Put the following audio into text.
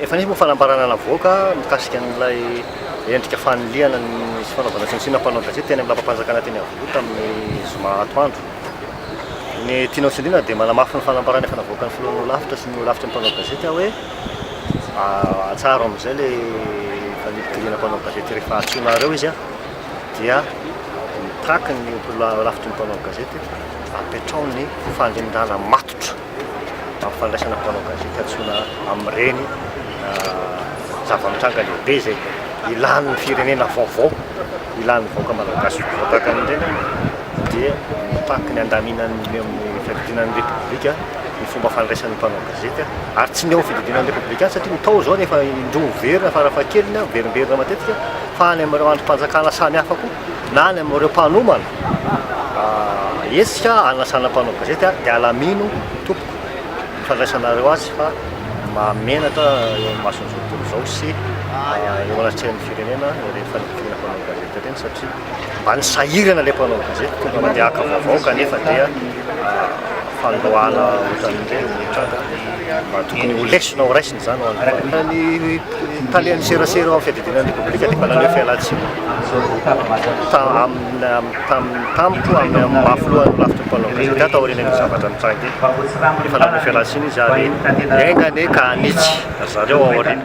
Efa nisy moa fanambarana navoaka mikasika an'ilay endrika fanilihana ny sy fanaovana tsinontsinona mpanao gazety teny amin'ny lapam-panjakana teny Iavoloha tamin'ny zoma atoandro. Ny tianao tsindriana dia manamafy ny fanambarana efa navoakan'ny filohan'ny Holafitra sy ny Holafitry ny mpanao gazety aho hoe atsaharo amin'izay ilay fanilitiliana mpanao gazety rehefa antsoinareo izy dia mitaky ny Holafitry ny mpanao gazety apetraho ny fanindàna matotra. amin'ny fandraisana mpanao gazety antsoina amin'ireny zava-mitranga lehibe izay ilàn'ny firenena vaovao, ilàn'ny vahoaka malagasy ho voa tahaka an'ireny aho dia mitaky ny handaminan'ny eo amin'ny fiadidiana ny Repoblika ny fomba fandraisan'ny mpanao gazety aho ary tsy ny eo amin'ny fiadidiana ny Repoblika ihany satria ny tao izao efa indroa miverina farafahakeliny aho miverimberina matetika fa any amin'ireo andrim-panjakana samihafa koa. na any amin'ireo mpanomana hetsika hanasana mpanao gazety dia alamino tompoko ny fandraisanareo azy fa mahamenatra eo amin'ny mason'ny zotom-polo izao sy eo anatrehan'ny firenena ireny fandidiana mpanao gazety ireny satria mba ny sahirana ilay mpanao gazety tonga mba dia haka vaovao kanefa dia fandroahana ohatran'ireny mitranga mba tokony ho lesona ho raisina Araka ny talen' ny serasera eo amin' ny fiadidiana ny Repoblika dia manana fialantsiny tampotampoka ho avy amin'ny mafy loha ny lafitry ny mpanao gazety taorian' ny zavatra nitranga eto. Efa nanome fialantsiny izy ary enga anie ka hanitsy ry zareo aoriana.